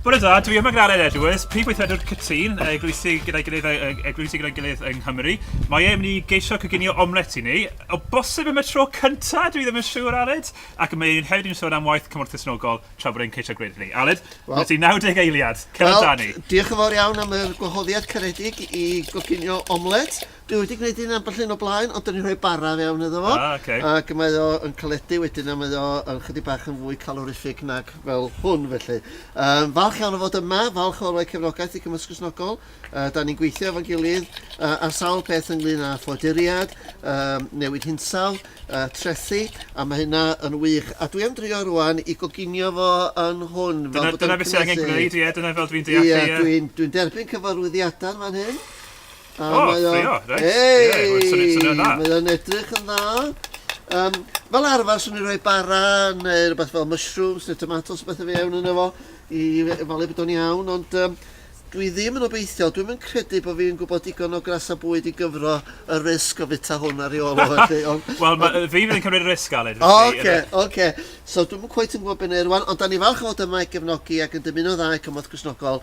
Bore da, dwi yma gyda Aled Edwards, prif weithredwr Cytun, eglwysi gyda'i gilydd, eglwysi gyda'i gilydd yng Nghymru. Mae e'n mynd i geisio coginio omlet i ni. O bosib am y tro cynta, dwi ddim yn siŵr, Aled. Ac mae e'n hefyd yn sôn am waith cymorth cysnogol tra bod e'n ceisio gwneud hynny. Aled, well, mae ti 90 eiliad, cefn well, ni. Diolch yn fawr iawn am yr gwahoddiad caredig i goginio omlet. Dwi wedi gwneud un ambell un o blaen, ond 'dyn ni'n rhoi bara fewn iddo fo. Ah, ocê. Ac mae o yn caledu wedyn, a mae o yn chydig bach yn fwy calorific nag fel hwn, felly. Yym, falch iawn o fod yma, falch o roi cefnogaeth i Cymysg Gristnogol. Yy, 'dan ni'n gweithio efo'n gilydd yy, ar sawl peth ynglyn â ffoaduriaid, yym, newid hinsawdd, yy, trethi, a ma' hynna yn wych. A dwi am drio rŵan i goginio fo yn hwn, fel Dyna, bod o'n dyna beth sydd angen cymhlethu. gwneud, ie, dyna fel dwi'n deall e, Ie, ie. dwi'n, dwi'n derbyn cyfarwyddiadau yn fan hyn. A oh, mae o'n... Ffrio, reit. Hey, yeah, mae'n swnio'n swnio dda. Mae o'n edrych yn dda. Um, fel arfer, swn i'n rhoi bara neu rhywbeth fel mushrooms neu tomatoes beth o fi iawn yn efo i falu bod o'n iawn, ond um, dwi ddim yn obeithiol, dwi'n yn credu bod fi'n gwybod digon o gras a bwyd i gyfro y risg o fita hwn ar ei ôl o felly. Wel, fi fydd yn cymryd y risg, Aled. O, oce, oce. So, dwi'n yn cweith yn gwybod beth neu'r rwan, ond da ni falch o fod yma i gefnogi ac yn dymuno dda i cymorth Cwsnogol.